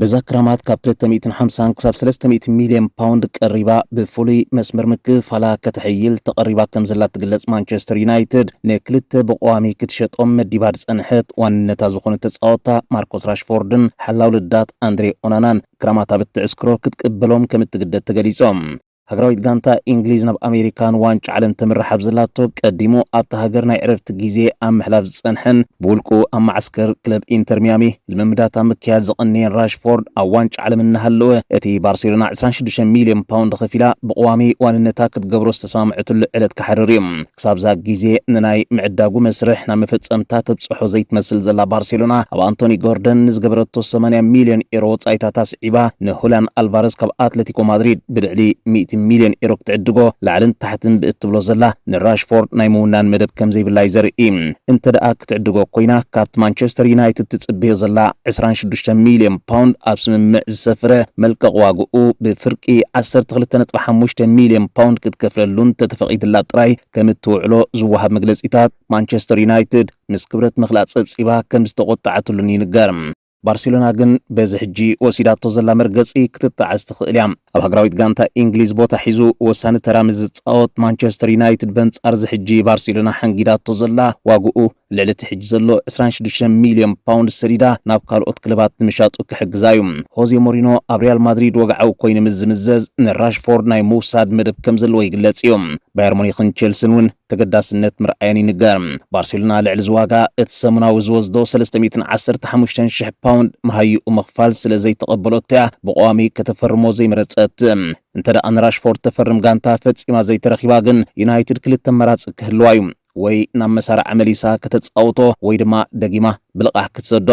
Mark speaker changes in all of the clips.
Speaker 1: በዛ ክራማት ካብ ክልተ ሚእትን ሓምሳን ክሳብ ሰለስተ ሚእቲ ሚልዮን ፓውንድ ቀሪባ ብፍሉይ መስመር ምክፍፋላ ከተሐይል ተቐሪባ ከምዘላ እትግለጽ ማንቸስተር ዩናይትድ፣ ንክልተ ብቐዋሚ ክትሸጦም መዲባ ዝጸንሐት ዋንነታ ዝኾኑ ተጻወትታ ማርኮስ ራሽፎርድን ሓላው ልዳት ኣንድሬ ኦናናን ክራማታ ብትዕስክሮ ክትቅበሎም ከምእትግደድ ተገሊጾ። ሃገራዊት ጋንታ ኢንግሊዝ ናብ ኣሜሪካ ንዋንጫ ዓለም ተምርሕ ኣብ ዘላቶ ቀዲሙ ኣብታ ሃገር ናይ ዕረፍቲ ግዜ ኣብ ምሕላፍ ዝጸንሐን ብውልቁ ኣብ መዓስከር ክለብ ኢንተር ሚያሚ ልምምዳት ኣብ ምክያድ ዝቐነየን ራሽፎርድ ኣብ ዋንጫ ዓለም እናሃለወ እቲ ባርሴሎና ዕስራን ሽዱሽተን ሚልዮን ፓውንድ ኸፊላ ብቐዋሚ ዋንነታ ክትገብሮ ዝተሰማምዐትሉ ዕለት ክሓርር እዩ። ክሳብ'ዛ ግዜ ንናይ ምዕዳጉ መስርሕ ናብ መፈጸምታ ተብጽሖ ዘይትመስል ዘላ ባርሴሎና፣ ኣብ ኣንቶኒ ጎርደን ንዝገበረቶ ሰማንያ ሚልዮን ኤሮ ወጻኢታት ኣስዒባ ንሁልያን ኣልቫረዝ ካብ ኣትለቲኮ ማድሪድ ብልዕሊ ሚእቲ ሚልዮን ኤሮ ክትዕድጎ ላዕልን ታሕትን ብእትብሎ ዘላ ንራሽፎርድ ናይ ምውናን መደብ ከምዘይብላ'ዩ ዘርኢ። እንተደኣ ክትዕድጎ ኮይና ካብቲ ማንቸስተር ዩናይትድ ትጽበዮ ዘላ ዕስራን ሽዱሽተን ሚልዮን ፓውንድ ኣብ ስምምዕ ዝሰፍረ መልቀቕ ዋግኡ ብፍርቂ ዓሰርተ ክልተ ነጥቢ ሓሙሽተ ሚልዮን ፓውንድ ክትከፍለሉ እንተተፈቒድላ ጥራይ ከምእትውዕሎ ዝወሃብ መግለጺታት፣ ማንቸስተር ዩናይትድ ምስ ክብረት ምኽላእ ጸብጺባ ከምዝተቖጠዓትሉን ይንገር። ባርሴሎና ግን በዚ ሕጂ ወሲዳቶ ዘላ መርገጺ ክትጣዕስ ትኽእል እያ። ኣብ ሃገራዊት ጋንታ ኢንግሊዝ ቦታ ሒዙ ወሳኒ ተራ ምስ ዝጻወት፣ ማንቸስተር ዩናይትድ በንጻር'ዚ ሕጂ ባርሴሎና ሓንጊዳቶ ዘላ ዋግኡ ልዕሊ እቲ ሕጂ ዘሎ ዕስራን ሽዱሽተን ሚልዮን ፓውንድ ሰዲዳ ናብ ካልኦት ክለባት ንምሻጡ ክሕግዛ እዩ። ሆዜ ሞሪኖ ኣብ ሪያል ማድሪድ ወግዓዊ ኮይኑ ምስ ዝምዘዝ ንራሽፎርድ ናይ ምውሳድ መደብ ከም ዘለዎ ይግለጽ እዩ። ባየር ሙኒክን ቼልሲን እውን ተገዳስነት ምርኣየን ይንገር። ባርሴሎና ልዕሊ እዚ ዋጋ እቲ ሰሙናዊ ዝወስዶ ሰለስተ ሚእትን ዓሰርተ ሓሙሽተን ሽሕ ፓውንድ መሃይኡ ምኽፋል ስለ ዘይተቐበሎቶ እያ ብቐዋሚ ከተፈርሞ ዘይመረጸት። እንተደኣ ንራሽፎርድ ተፈርም ጋንታ ፈጺማ ዘይተረኪባ ግን ዩናይትድ ክልተ ኣማራጺ ክህልዋ እዩ። ወይ ናብ መሳርዓ መሊሳ ከተጻውቶ ወይ ድማ ደጊማ ብልቓሕ ክትሰዶ።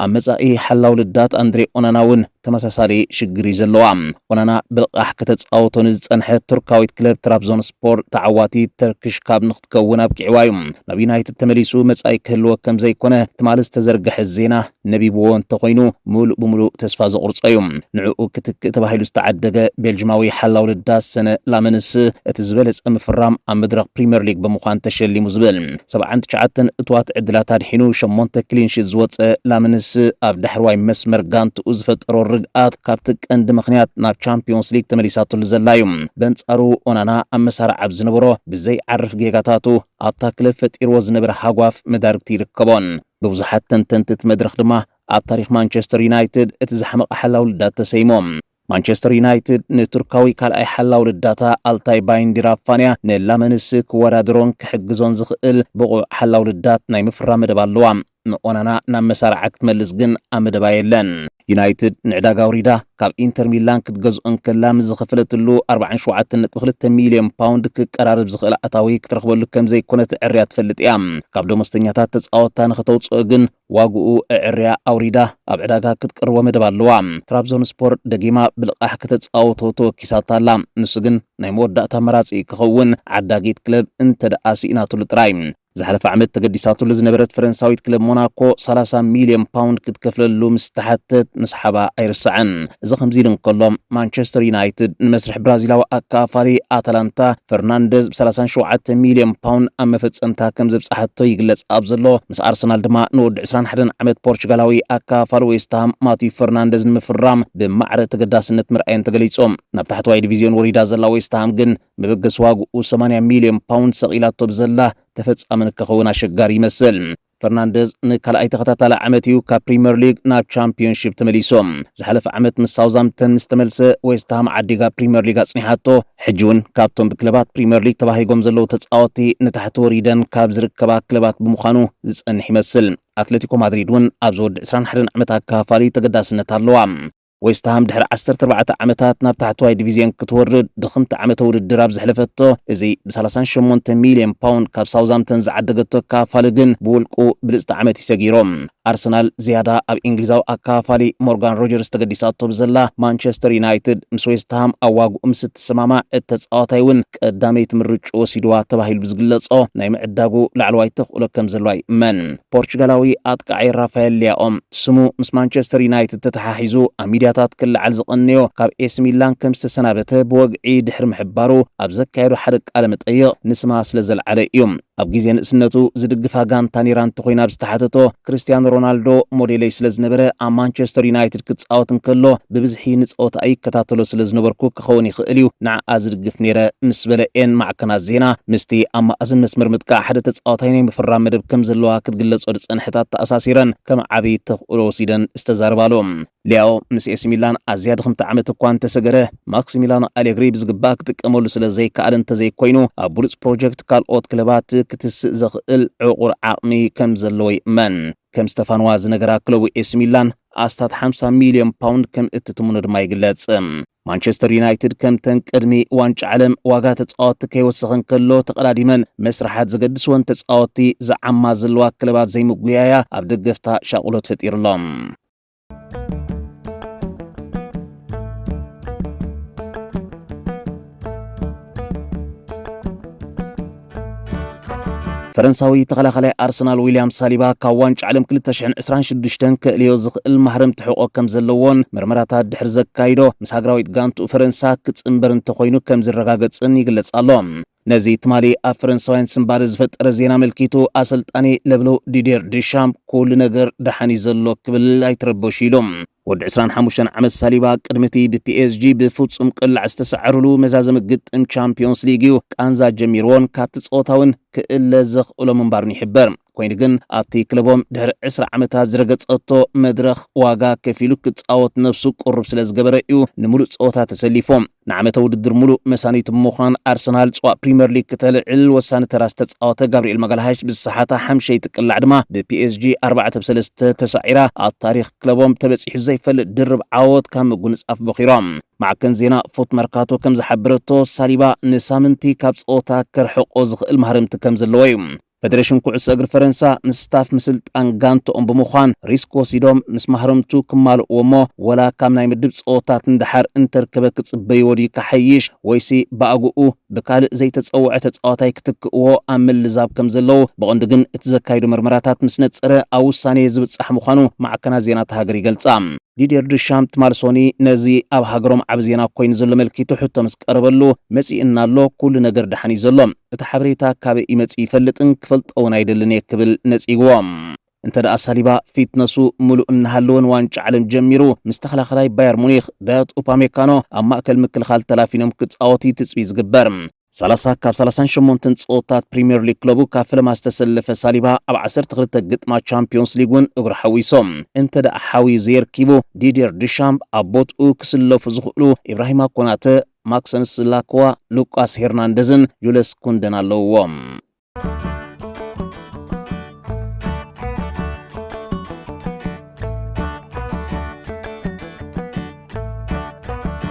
Speaker 1: ኣብ መጻኢ ሓላው ልዳት ኣንድሬ ኦናና እውን ተመሳሳሊ ሽግር እዩ ዘለዋ። ኦናና ብልቓሕ ከተጻውቶ ንዝጸንሐት ቱርካዊት ክለብ ትራብዞንስፖር ተዓዋቲ ተርኪሽ ካብ ንክትከውን ኣብቂዕዋ እዩ። ናብ ዩናይትድ ተመሊሱ መጻኢ ክህልዎ ከምዘይኮነ ትማሊ ዝተዘርገሐ ዜና ነቢብዎ እንተኾይኑ ምሉእ ብምሉእ ተስፋ ዘቑርጾ እዩ። ንዕኡ ክትክእ ተባሂሉ ዝተዓደገ ቤልጅማዊ ሓላው ልዳት ሰነ ላመንስ እቲ ዝበለጸ ምፍራም ኣብ መድረኽ ፕሪመር ሊግ ብምዃን ተሸሊሙ ዝብል ሰብዓን ትሽዓተን እቱዋት ዕድላት ኣድሒኑ ሸሞንተ ክሊንሺት ዝወጸ ላመንስ ኣብ ዳሕረዋይ መስመር ጋንትኡ ዝፈጠሮ ርግኣት ካብቲ ቀንዲ ምኽንያት ናብ ቻምፕዮንስ ሊግ ተመሊሳትሉ ዘላ እዩ። በንጻሩ ኦናና ኣብ መሳርዕ ኣብ ዝነበሮ ብዘይዓርፍ ጌጋታቱ ኣብታ ክለብ ፈጢርዎ ዝነበረ ሃጓፍ መዳርግቲ ይርከቦን። ብብዙሓት ተንተንቲ እቲ መድረኽ ድማ ኣብ ታሪኽ ማንቸስተር ዩናይትድ እቲ ዝሓመቐ ሓላው ልዳት ተሰይሙ። ማንቸስተር ዩናይትድ ንቱርካዊ ካልኣይ ሓላው ልዳታ ኣልታይ ባይንዲር ኣብ ፋንያ ንላመንስ ክወዳደሮን ክሕግዞን ዝኽእል ብቑዕ ሓላው ልዳት ናይ ምፍራም መደብ ኣለዋ። ንኦናና ናብ መሳርዓ ክትመልስ ግን ኣብ መደባ የለን። ዩናይትድ ንዕዳጋ ኣውሪዳ ካብ ኢንተር ሚላን ክትገዝኦ እንከላ ምስ ዝኸፈለትሉ 47.2 ሚልዮን ፓውንድ ክቀራረብ ዝኽእል ኣታዊ ክትረኽበሉ ከም ዘይኮነ ትዕርያ ትፈልጥ እያ። ካብ ደሞዝተኛታት ተጻወታ ንኸተውጽኦ ግን ዋግኡ እዕርያ ኣውሪዳ ኣብ ዕዳጋ ክትቀርቦ መደብ ኣለዋ። ትራብዞን ስፖር ደጊማ ብልቓሕ ከተጻውቶ ተወኪሳታ ኣላ። ንሱ ግን ናይ መወዳእታ መራጺ ክኸውን ዓዳጊት ክለብ እንተደኣ ስኢናትሉ ጥራይ። ዝሓለፈ ዓመት ተገዲሳትሉ ዝነበረት ፈረንሳዊት ክለብ ሞናኮ 30 ሚልዮን ፓውንድ ክትከፍለሉ ምስ ተሓተት ምስሓባ ኣይርሳዕን። እዚ ከምዚ ኢሉ እንከሎ ማንቸስተር ዩናይትድ ንመስርሕ ብራዚላዊ ኣከፋፋሊ ኣታላንታ ፈርናንደዝ ብ37 ሚልዮን ፓውንድ ኣብ መፈጸምታ ከም ዘብጽሓቶ ይግለጽ ኣብ ዘሎ ምስ ኣርሰናል ድማ ንወዲ 21 ዓመት ፖርቹጋላዊ ኣከፋፋሊ ዌስትሃም ማቲዩ ፈርናንደዝ ንምፍራም ብማዕረ ተገዳስነት ምርኣየን ተገሊጹ። ናብ ታሕተዋይ ዲቪዝዮን ወሪዳ ዘላ ዌስትሃም ግን ንብግስ ዋግኡ ሰማንያ ሚልዮን ፓውንድ ሰቒላቶ ብዘላ ተፈጻሚ ንክኸውን ኣሸጋሪ ይመስል። ፈርናንደዝ ንካልኣይ ተኸታታሊ ዓመት እዩ ካብ ፕሪምየር ሊግ ናብ ቻምፒዮንሺፕ ተመሊሶም። ዝሓለፈ ዓመት ምስ ሳውዛምፕተን ምስ ተመልሰ ዌስትሃም ዓዲጋ ፕሪምየር ሊግ ኣጽኒሓቶ። ሕጂ እውን ካብቶም ብክለባት ፕሪምየር ሊግ ተባሂጎም ዘለዉ ተጻወቲ ንታሕቲ ወሪደን ካብ ዝርከባ ክለባት ብምዃኑ ዝጸንሕ ይመስል። ኣትለቲኮ ማድሪድ እውን ኣብዚ ወዲ 21 ዓመት ኣካፋሊ ተገዳስነት ኣለዋ። ዌስትሃም ድሕሪ ዓሰርተ ኣርባዕተ ዓመታት ናብ ታሕተዋይ ዲቪዝዮን ክትወርድ ድኽምቲ ዓመተ ውድድር ኣብ ዘሕለፈቶ እዚ ብ ሰላሳን ሸሞንተን ሚልዮን ፓውንድ ካብ ሳውዝሃምተን ዝዓደገቶ ኣከፋፋሊ ግን ብውልቁ ብልጽቲ ዓመት እዩ ሰጊሩ። ኣርሰናል ዝያዳ ኣብ እንግሊዛዊ ኣከፋፋሊ ሞርጋን ሮጀርስ ተገዲሳቶ ብዘላ ማንቸስተር ዩናይትድ ምስ ዌስትሃም ኣብ ዋግኡ ምስ እትሰማማዕ እቲ ተጻዋታይ እውን ቀዳመይቲ ምርጭ ወሲድዋ ተባሂሉ ብዝግለጾ ናይ ምዕዳጉ ላዕለዋይ ተኽእሎ ከም ዘለዋ ይእመን። ፖርቹጋላዊ ኣጥቃዒ ራፋኤል ሊያኦም ስሙ ምስ ማንቸስተር ዩናይትድ ተተሓሒዙ ኣብ ሚድያታት ክለዓል ዝቐነዮ ካብ ኤሲ ሚላን ከም ዝተሰናበተ ብወግዒ ድሕሪ ምሕባሩ ኣብ ዘካየዶ ሓደ ቃለ መጠይቕ ንስማ ስለ ዘልዓለ እዩ። ኣብ ግዜ ንእስነቱ ዝድግፋ ጋንታ ነይራ እንተኾይና ብዝተሓተቶ፣ ክርስትያኖ ሮናልዶ ሞዴለይ ስለዝነበረ ኣብ ማንቸስተር ዩናይትድ ክጻወት እንከሎ ብብዝሒ ንጸወታኣ ይከታተሎ ስለዝነበርኩ ክኸውን ይኽእል እዩ ንዓኣ ዝድግፍ ነይረ ምስ በለ እየን ማዕከናት ዜና ምስቲ ኣብ ማእዝን መስመር ምጥቃዕ ሓደ ተጻዋታይ ናይ ምፍራም መደብ ከምዘለዋ ክትግለጾ ዝጸንሐት ኣተኣሳሲረን ከም ዓቢ ተኽእሎ ወሲደን ዝተዛረባሉ ሊያኦ ምስ ኤሲ ሚላን ኣዝያ ድኽምቲ ዓመት እኳ እንተሰገረ፣ ማክሲሚላኖ ኣሌግሪ ብዝግባእ ክጥቀመሉ ስለ ዘይከኣለ እንተዘይኮይኑ ኣብ ብሉጽ ፕሮጀክት ካልኦት ክለባት ክትስእ ዘኽእል ዕቑር ዓቕሚ ከም ዘለዎ ይእመን። ከም ስተፋንዋ ዝነገራ ክለቡ ኤሲ ሚላን ኣስታት ሓምሳ ሚልዮን ፓውንድ ከም እትትምኖ ድማ ይግለጽ። ማንቸስተር ዩናይትድ ከምተን ቅድሚ ዋንጫ ዓለም ዋጋ ተጻወቲ ከይወሰኸ እንከሎ ተቐዳዲመን መስርሓት ዘገድስወን ተጻወቲ ዝዓማ ዘለዋ ክለባት ዘይምጉያያ ኣብ ደገፍታ ሻቑሎት ፈጢሩሎም። ፈረንሳዊ ተኸላኻላይ ኣርሰናል ዊልያም ሳሊባ ካብ ዋንጫ ዓለም 2026 ክእልዮ ዝኽእል ማህረም ትሕቆ ከም ዘለዎን መርመራታት ድሕሪ ዘካይዶ ምስ ሃገራዊት ጋንቱ ፈረንሳ ክጽንበር እንተኾይኑ ከም ዝረጋገጽን ይግለጽ ኣሎ። ነዚ ትማሊ ኣብ ፈረንሳውያን ስንባደ ዝፈጠረ ዜና ኣመልኪቱ ኣሰልጣኒ ለብሎ ዲዴር ድሻም ኩሉ ነገር ደሓን እዩ ዘሎ ክብል ኣይትረበሹ ኢሉ። ወዲ ዕስራን ሓሙሽተን ዓመት ሳሊባ ቅድሚ እቲ ብፒኤስጂ ብፍጹም ቅላዕ ዝተሰዓሩሉ መዛዘሚ ግጥም ቻምፕዮንስ ሊግ እዩ ቃንዛ ጀሚርዎን ካብቲ ጸወታ እውን ክእለ ዘኽእሎ ምንባሩን ይሕበር። ኮይኑ ግን ኣብቲ ክለቦም ድሕሪ ዕስራ ዓመታት ዝረገጸቶ መድረኽ ዋጋ ከፊሉ ክጻወት ነብሱ ቅሩብ ስለ ዝገበረ እዩ ንምሉእ ጸወታ ተሰሊፉ። ንዓመተ ውድድር ምሉእ መሳኒቱ ብምዃን ኣርሰናል ጽዋእ ፕሪመር ሊግ ክተልዕል ወሳኒ ተራ ዝተጻወተ ጋብሪኤል ማጋልሃሽ ብዝሰሓታ ሓምሸይቲ ቅላዕ ድማ ብፒኤስጂ ኣርባዕተ ብ ሰለስተ ተሳዒራ ኣብ ታሪኽ ክለቦም ተበጺሑ ዘይፈልጥ ድርብ ዓወት ካብ ምጉንጻፍ በኺሮም። ማዕከን ዜና ፉት መርካቶ ከም ዝሓበረቶ ሳሊባ ንሳምንቲ ካብ ጸወታ ከርሕቆ ዝኽእል ማህረምቲ ከም ዘለዎ እዩ። ፈደሬሽን ኩዕሶ እግሪ ፈረንሳ ምስ ስታፍ ምስልጣን ጋንትኦም ብምዃን ሪስክ ወሲዶም ምስ ማህረምቱ ክማልእዎ እሞ ወላ ካብ ናይ ምድብ ጸወታት ንደሓር እንተርከበ ክጽበይዎ ድዩ ክሓይሽ ወይሲ ብኣግኡ ብካልእ ዘይተጸወዐ ተጻዋታይ ክትክእዎ ኣብ ምልዛብ ከም ዘለዉ ብቐንዱ ግን እቲ ዘካይዶ መርመራታት ምስ ነጸረ ኣብ ውሳኔ ዝብጻሕ ምዃኑ ማዕከናት ዜና'ታ ሃገር ይገልጻ። ዲዴር ድሻም ትማል ሶኒ ነዚ ኣብ ሃገሮም ዓቢ ዜና ኮይኑ ዘሎ መልኪቱ ሕቶ ምስ ቀረበሉ መጺእና ኣሎ ኩሉ ነገር ደሓን እዩ ዘሎ እቲ ሓበሬታ ካበይ እዩ መጺኡ ይፈልጥን ክፈልጦ ውን ኣይደልን እየ ክብል ነጺግዎ። እንተደኣ ሳሊባ ፊትነሱ ምሉእ እናሃለወ ንዋንጫ ዓለም ጀሚሩ ምስ ተኸላኻላይ ባየር ሙኒኽ ዳዮት ኡፓሜካኖ ኣብ ማእከል ምክልኻል ተላፊኖም ክጻወት እዩ ትጽቢት ዝግበር። ሰላሳ ካብ ሰላሳን ሸሞንተን ጸወታት ፕሪምየር ሊግ ክለቡ ካብ ፈለማ ዝተሰለፈ ሳሊባ ኣብ ዓሰርተ ክልተ ግጥማት ቻምፕዮንስ ሊግ እውን እግሩ ሓዊሶ እንተ ደኣ ሓውዩ ዘየርኪቡ ዲድየር ድሻምፕ ኣብ ቦትኡ ክስለፉ ዝኽእሉ ኢብራሂማ ኮናተ ማክሰንስ ላክዋ፣ ሉቃስ ሄርናንደዝን ጁለስ ኩንደን ኣለውዎ።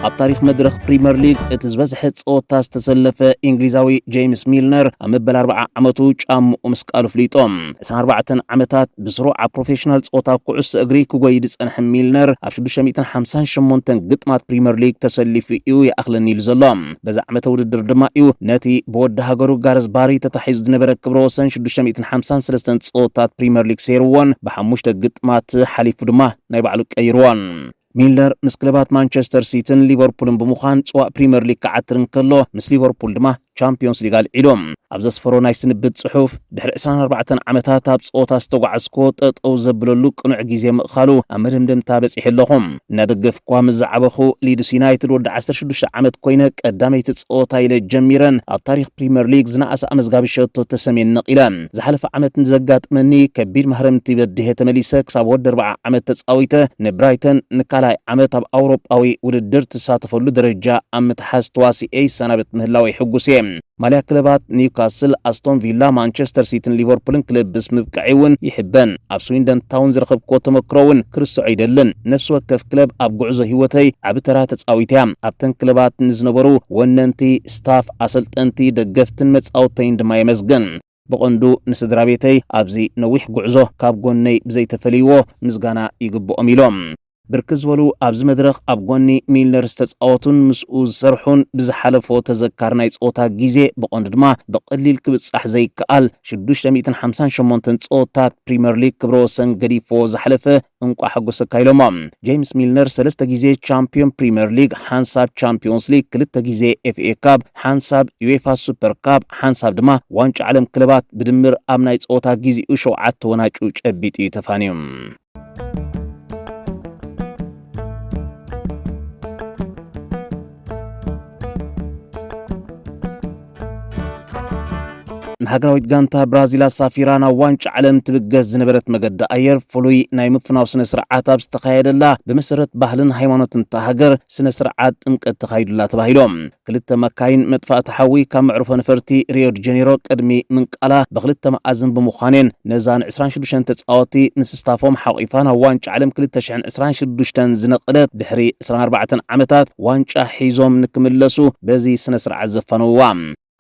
Speaker 1: ኣብ ታሪኽ መድረኽ ፕሪምየር ሊግ እቲ ዝበዝሐ ጸወታ ዝተሰለፈ እንግሊዛዊ ጄምስ ሚልነር ኣብ መበል 40 ዓመቱ ጫምኡ ምስቃሉ ፍሊጦ 24 ዓመታት ብስሩ ኣብ ፕሮፌሽናል ጸወታ ኩዕሶ እግሪ ክጎይ ዝጸንሐ ሚልነር ኣብ 658 ግጥማት ፕሪምየር ሊግ ተሰሊፉ እዩ ይኣኽለኒ ኢሉ ዘሎ በዚ ዓመተ ውድድር ድማ እዩ ነቲ ብወዲ ሃገሩ ጋረዝ ባሪ ተታሒዙ ዝነበረ ክብረ ወሰን ሽዱሽተ ሚእትን ሓምሳን ሰለስተን ጸወታት ፕሪመር ሊግ ሰይርዎን ብሓሙሽተ ግጥማት ሓሊፉ ድማ ናይ ባዕሉ ቀይርዎን። ሚለር ምስ ክለባት ማንቸስተር ሲቲን ሊቨርፑልን ብምዃን ጽዋእ ፕሪመር ሊግ ክዓትር እንከሎ ምስ ሊቨርፑል ድማ ቻምፕዮንስ ሊግ ኣልዒሉ። ኣብ ዘስፈሮ ናይ ስንብት ጽሑፍ፣ ድሕሪ ዕስራን ኣርባዕተን ዓመታት ኣብ ጸወታ ዝተጓዓዝኩዎ ጠጠው ዘብለሉ ቅኑዕ ግዜ ምእኻሉ ኣብ መደምደምታ በጺሐ ኣለኹ። እናደገፍኩዋ ምስ ዝዓበኹ ሊድስ ዩናይትድ ወዲ ዓሰርተ ሽዱሽተ ዓመት ኮይነ ቀዳመይቲ ጸወታ ኢለ ጀሚረን ኣብ ታሪኽ ፕሪመር ሊግ ዝነኣሰ ኣመዝጋቢ ሸቶ ተሰምየን ነቒለ። ዝሓለፈ ዓመት ንዘጋጥመኒ ከቢድ ማህረምቲ በዲሀ ተመሊሰ ክሳብ ወዲ ኣርብዓ ዓመት ተጻዊተ ንብራይተን ንካልኣይ ዓመት ኣብ ኣውሮጳዊ ውድድር ትሳተፈሉ ደረጃ ኣብ ምትሓዝ ተዋሲኤ ይሰናበት ምህላወይ ሕጉስ እየ። ማልያ ክለባት ኒውካስል፣ ኣስቶን ቪላ፣ ማንቸስተር ሲቲን ሊቨርፑልን ክለብስ ምብቅዐይ እውን ይሕበን። ኣብ ስዊንደን ታውን ዝረኸብክዎ ተመክሮ እውን ክርስዖ ኣይደልን። ነፍሲ ወከፍ ክለብ ኣብ ጉዕዞ ህይወተይ ዓቢ ተራ ተጻዊታ እያ። ኣብተን ክለባት ንዝነበሩ ወነንቲ፣ ስታፍ፣ ኣሰልጠንቲ፣ ደገፍትን መጻውተይን ድማ የመስግን። ብቐንዱ ንስድራቤተይ ኣብዚ ነዊሕ ጉዕዞ ካብ ጎነይ ብዘይተፈለይዎ ምስጋና ይግብኦም ኢሎም። ብርክት ዝበሉ ኣብዚ መድረኽ ኣብ ጎኒ ሚልነር ዝተጻወቱን ምስኡ ዝሰርሑን ብዝሓለፎ ተዘካሪ ናይ ጸወታ ግዜ ብቐንዱ ድማ ብቐሊል ክብጻሕ ዘይከኣል ሽዱሽተ ሚእትን ሓምሳን ሸሞንተን ጸወታት ፕሪመር ሊግ ክብረ ወሰን ገዲፍዎ ዝሓለፈ እንቋዕ ሓጎሰካ ኢሎሞ። ጀይምስ ሚልነር ሰለስተ ግዜ ቻምፕዮን ፕሪመር ሊግ፣ ሓንሳብ ቻምፕዮንስ ሊግ፣ ክልተ ግዜ ኤፍኤ ካፕ፣ ሓንሳብ ዩዌፋ ሱፐር ካፕ፣ ሓንሳብ ድማ ዋንጫ ዓለም ክለባት ብድምር ኣብ ናይ ጸወታ ግዜኡ ሸውዓተ ወናጩ ጨቢጡ እዩ ተፋንዩ። ንሃገራዊት ጋንታ ብራዚል ኣሳፊራ ናብ ዋንጫ ዓለም ትብገስ ዝነበረት መገዲ ኣየር ፍሉይ ናይ ምፍናው ስነ ስርዓት ኣብ ዝተኻየደላ ብመሰረት ባህልን ሃይማኖትን እታ ሃገር ስነ ስርዓት ጥምቀት ተኻይዱላ ተባሂሎም ክልተ መካይን መጥፋእቲ ሓዊ ካብ መዕርፎ ነፈርቲ ሪዮ ዲ ጀኔሮ ቅድሚ ምንቃላ ብክልተ መኣዝን ብምዃንን ነዛ ን26 ተፃወቲ ንስስታፎም ሓቂፋ ናብ ዋንጫ ዓለም 2026 ዝነቐለት ድሕሪ 24 ዓመታት ዋንጫ ሒዞም ንክምለሱ በዚ ስነ ስርዓት ዘፋነውዋ።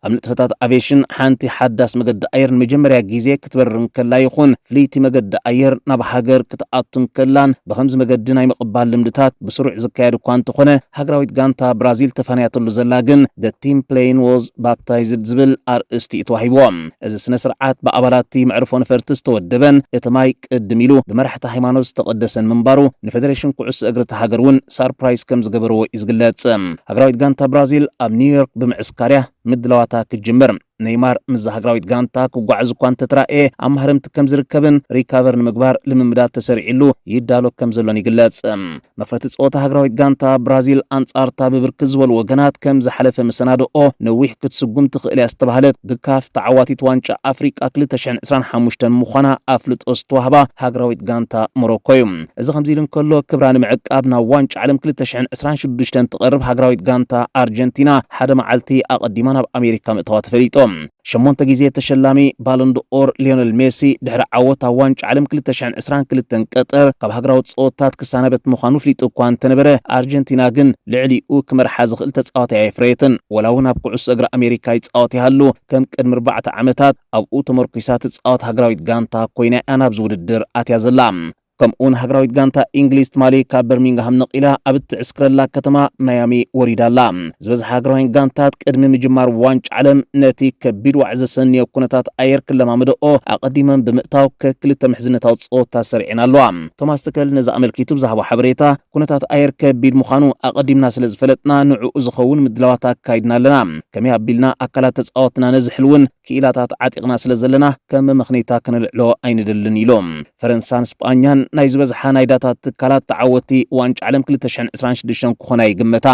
Speaker 1: ኣብ ንጥፈታት ኣቬሽን ሓንቲ ሓዳስ መገዲ ኣየር ንመጀመርያ ግዜ ክትበርር እንከላ ይኹን ፍልይቲ መገዲ ኣየር ናብ ሃገር ክትኣቱ እንከላን ብኸምዚ መገዲ ናይ ምቕባል ልምድታት ብስሩዕ ዝካየድ እኳ እንተኾነ ሃገራዊት ጋንታ ብራዚል ተፋንያትሉ ዘላ ግን The Team Plane Was Baptized ዝብል ኣርእስቲ እዩ ተዋሂብዎ። እዚ ስነ ስርዓት ብኣባላት'ቲ መዕርፎ ነፈርቲ ዝተወደበን እቲ ማይ ቅድም ኢሉ ብመራሕቲ ሃይማኖት ዝተቐደሰን ምንባሩ ንፌደሬሽን ኩዕሶ እግሪ እታ ሃገር እውን ሳርፕራይዝ ከም ዝገበርዎ እዩ ዝግለጽ። ሃገራዊት ጋንታ ብራዚል ኣብ ኒውዮርክ ብምዕስካርያ ምድላዋታ ክትጅምር ነይማር ምስዛ ሃገራዊት ጋንታ ክጓዓዝ እኳ እንተተራእየ ኣብ ማህረምቲ ከም ዝርከብን ሪካቨር ንምግባር ልምምዳት ተሰሪዕሉ ይዳሎ ከም ዘሎን ይግለጽ። መኽፈቲ ጸወታ ሃገራዊት ጋንታ ብራዚል ኣንጻርታ ብብርክት ዝበሉ ወገናት ከም ዝሓለፈ መሰናድኦ ነዊሕ ክትስጉም ትኽእል እያ ዝተባህለት ብካፍ ተዓዋቲት ዋንጫ ኣፍሪቃ 2025 ምዃና ኣፍልጦ ዝተዋህባ ሃገራዊት ጋንታ ሞሮኮ እዩ። እዚ ከምዚ ኢሉ እንከሎ፣ ክብራ ንምዕቃብ ናብ ዋንጫ ዓለም ክልተ ሽሕን ዕስራን ሽዱሽተን እትቐርብ ሃገራዊት ጋንታ ኣርጀንቲና፣ ሓደ መዓልቲ ኣቐዲማ ናብ ኣሜሪካ ምእታዋ ተፈሊጡ። ሸሞንተ ግዜ ተሸላሚ ባሎንድ'ኦር ሊዮነል ሜሲ፣ ድሕሪ ዓወት ኣብ ዋንጫ ዓለም ክልተ ሽሕን ዕስራን ክልተን ቀጠር፣ ካብ ሃገራዊ ጸወታት ክሰናበት ምዃኑ ኣፍሊጡ እኳ እንተነበረ፣ ኣርጀንቲና ግን ልዕሊኡ ክመርሓ ዝኽእል ተጻዋታይ ኣየፍረየትን። ወላ'ውን ኣብ ኩዕሶ እግሪ ኣሜሪካ ይጻወት ይሃሉ፣ ከም ቅድሚ ኣርባዕተ ዓመታት፣ ኣብኡ ተመርኲሳ ትጻወት ሃገራዊት ጋንታ ኮይና እያ ናብዚ ውድድር ኣትያ ዘላ። ከምኡ'ውን ሃገራዊት ጋንታ ኢንግሊዝ ትማሊ ካብ በርሚንግሃም ነቒላ ኣብ እትዕስክረላ ከተማ ማያሚ ወሪዳ ኣላ። ዝበዝሓ ሃገራውያን ጋንታት ቅድሚ ምጅማር ዋንጫ ዓለም ነቲ ከቢድ ዋዒ ዘሰንዮ ኩነታት ኣየር ክለማመደኦ ኣቐዲመን ብምእታው ከክልተ ምሕዝነታዊ ጸወታ ሰሪዐን ኣለዋ። ቶማስ ትከል ነዚ ኣመልኪቱ ብዝሃቦ ሓበሬታ፣ ኩነታት ኣየር ከቢድ ምዃኑ ኣቐዲምና ስለ ዝፈለጥና ንዕኡ ዝኸውን ምድላዋት ኣካይድና ኣለና። ከመይ ኣቢልና ኣካላት ተጻወትና ነዝሕልውን ክኢላታት ዓጢቕና ስለ ዘለና ከም መመኽነይታ ከነልዕሎ ኣይንደልን ኢሉ። ፈረንሳን ስጳኛን ናይ ዝበዝሓ ናይ ዳታ ትካላት ተዓወትቲ ዋንጫ ዓለም ክልተ ሽሕን ዕስራን ሽዱሽተን ክኾና ይግመታ።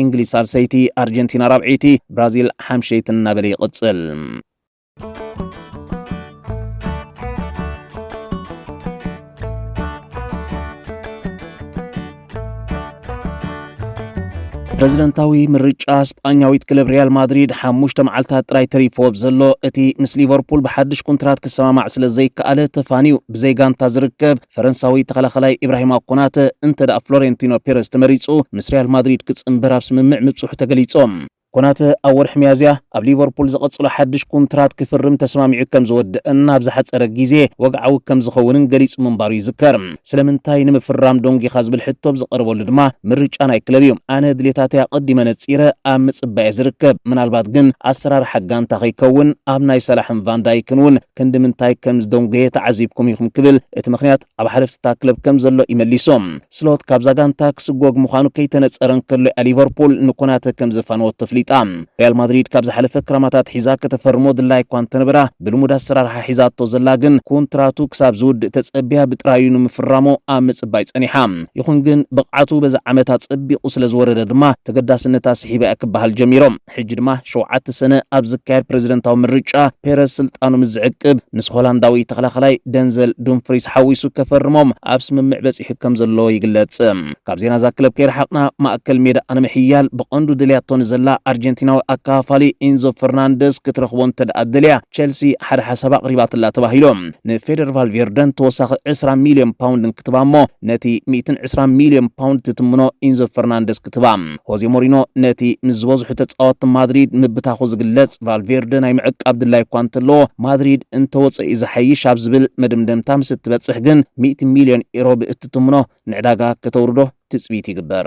Speaker 1: እንግሊዝ ሳልሰይቲ፣ ኣርጀንቲና ራብዐይቲ፣ ብራዚል ሓምሸይትን እናበለ ይቕጽል። ፕረዚደንታዊ ምርጫ ስጳኛዊት ክለብ ሪያል ማድሪድ ሓሙሽተ መዓልትታት ጥራይ ተሪፎ ዘሎ እቲ ምስ ሊቨርፑል ብሓድሽ ኩንትራት ክሰማማዕ ስለ ዘይከኣለ ተፋንዩ ብዘይ ጋንታ ዝርከብ ፈረንሳዊ ተኸላኸላይ ኢብራሂማ ኮናተ እንተ ፍሎሬንቲኖ ፔረስ ተመሪጹ ምስ ሪያል ማድሪድ ክጽንበር ኣብ ስምምዕ ምብጽሑ ተገሊጾም። ኮናተ ኣብ ወርሒ ሚያዝያ ኣብ ሊቨርፑል ዝቕጽሎ ሓድሽ ኩንትራት ክፍርም ተስማሚዑ ከም ዝወደኣን ኣብ ዝሓጸረ ግዜ ወግዓዊ ከም ዝኸውንን ገሊጹ ምንባሩ ይዝከር። ስለምንታይ ንምፍራም ዶንጊኻ ዝብል ሕቶ ብዝቐርበሉ ድማ ምርጫ ናይ ክለብ እዩ። ኣነ ድሌታተይ ኣቐዲመ ነጺረ ኣብ ምጽባይ እየ ዝርከብ። ምናልባት ግን ኣሰራርሓ ጋንታ ከይከውን ኣብ ናይ ሳላሕን ቫን ዳይክን እውን ክንድምንታይ ከም ዝደንጎየ ተዓዚብኩም ኢኹም ክብል እቲ ምኽንያት ኣብ ሓለፍቲታ ክለብ ከም ዘሎ እዩ መሊሱ። ስሎት ካብዛ ጋንታ ክስጎግ ምዃኑ ከይተነጸረ እንከሎ እያ ሊቨርፑል ንኮናተ ከም ዘፋነወቶ ኣፍሊጣ። ሪያል ማድሪድ ካብ ዝሓለፈ ክራማት ኣትሒዛ ከተፈርሞ ድላይ እኳ እንተነበራ ብልሙድ ኣሰራርሓ ሒዛቶ ዘላ ግን ኩንትራቱ ክሳብ ዝውድእ ተጸብያ ብጥራዩ ንምፍራሙ ኣብ ምጽባይ ጸኒሓ። ይኹን ግን ብቕዓቱ በዚ ዓመት ኣጸቢቑ ስለ ዝወረደ ድማ ተገዳስነታ ስሒባ እያ ክበሃል ጀሚሩ። ሕጂ ድማ ሸውዓተ ሰነ ኣብ ዝካየድ ፕረዚደንታዊ ምርጫ ፔረዝ ስልጣኑ ምስ ዝዕቅብ ምስ ሆላንዳዊ ተኸላኻላይ ደንዘል ዱምፍሪስ ሓዊሱ ከፈርሞም ኣብ ስምምዕ በጺሑ ከም ዘሎ ይግለጽ። ካብ ዜና እዛ ክለብ ከይረሓቕና ማእከል ሜዳኣ ንምሕያል ብቐንዱ ደልያቶ ንዘላ ኣርጀንቲናዊ ኣከፋፋሊ ኢንዞ ፈርናንደዝ ክትረኽቦ እንተድኣ ደልያ ቸልሲ ሓደ ሓሳብ ኣቕሪባትላ ተባሂሉ ንፌደር ቫልቬርደን ተወሳኺ ዕስራ ሚልዮን ፓውንድ ክትባ'ሞ ነቲ ሚእትን ዕስራን ሚልዮን ፓውንድ ትትምኖ ኢንዞ ፈርናንደዝ ክትባ ሆዜ ሞሪኖ ነቲ ምስ ዝበዝሑ ተጻወትቲ ማድሪድ ምብታኹ ዝግለጽ ቫልቬርደ ናይ ምዕቃብ ድላይ እኳ እንተለዎ፣ ማድሪድ እንተወጸኢ ዝሓይሽ ኣብ ዝብል መደምደምታ ምስ እትበጽሕ ግን ሚእቲ ሚልዮን ዩሮ ብእትትምኖ ንዕዳጋ ከተውርዶ ትጽቢት ይግበር።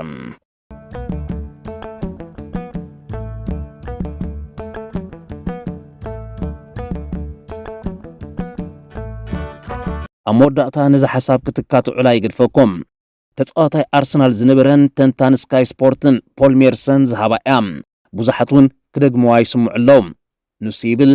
Speaker 1: ኣብ መወዳእታ ነዚ ሓሳብ ክትካትዑላ ይግድፈኩም። ተጻዋታይ ኣርሰናል ዝነበረን ተንታኒ ስካይ ስፖርትን ፖል ሜርሰን ዝሃባ እያ። ብዙሓት እውን ክደግምዋ ይስምዑ ኣለዉ። ንሱ ይብል፣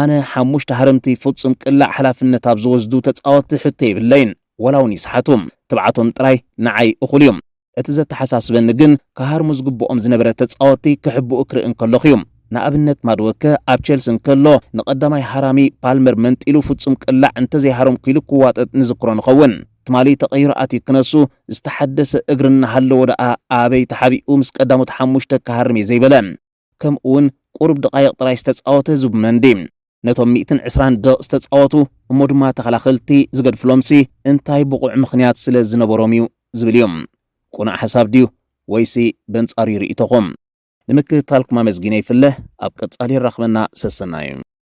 Speaker 1: ኣነ ሓሙሽተ ሃረምቲ ፍጹም ቅላዕ ሓላፍነት ኣብ ዝወስዱ ተጻወትቲ ሕቶ የብለይን፣ ዋላ እውን ይስሓቱ። ትብዓቶም ጥራይ ንዓይ እኹል እዩ። እቲ ዘተሓሳስበኒ ግን ክሃርሙ ዝግብኦም ዝነበረ ተጻወትቲ ክሕብኡ ክርኢ እንከለኹ እዩ። ንኣብነት ማድወከ ኣብ ቸልሲ እንከሎ ንቐዳማይ ሃራሚ ፓልመር መንጢሉ ፍጹም ቅላዕ እንተዘይሃረምኩ ኢሉ ክዋጠጥ ንዝክሮ ንኸውን። ትማሊ ተቐይሩ ኣትዩ ክነሱ ዝተሓደሰ እግሪ እናሃለዎ ደኣ ኣበይ ተሓቢኡ ምስ ቀዳሞት ሓሙሽተ ክሃርም እየ ዘይበለ። ከምኡ'ውን ቁሩብ ደቓይቕ ጥራይ ዝተጻወተ ዝብ መንዲ ነቶም ሚእትን ዕስራን ደቕ ዝተጻወቱ እሞ ድማ ተኸላኸልቲ ዝገድፍሎምሲ እንታይ ብቑዕ ምኽንያት ስለ ዝነበሮም እዩ ዝብል እዩ። ቁኑዕ ሓሳብ ድዩ ወይሲ በንጻሩ እዩ ርኢቶኹም? ንምክትታልኩም ኣመስጊነ ይፍለ ኣብ ቀጻሊ የራኽበና ሰሰናዩ።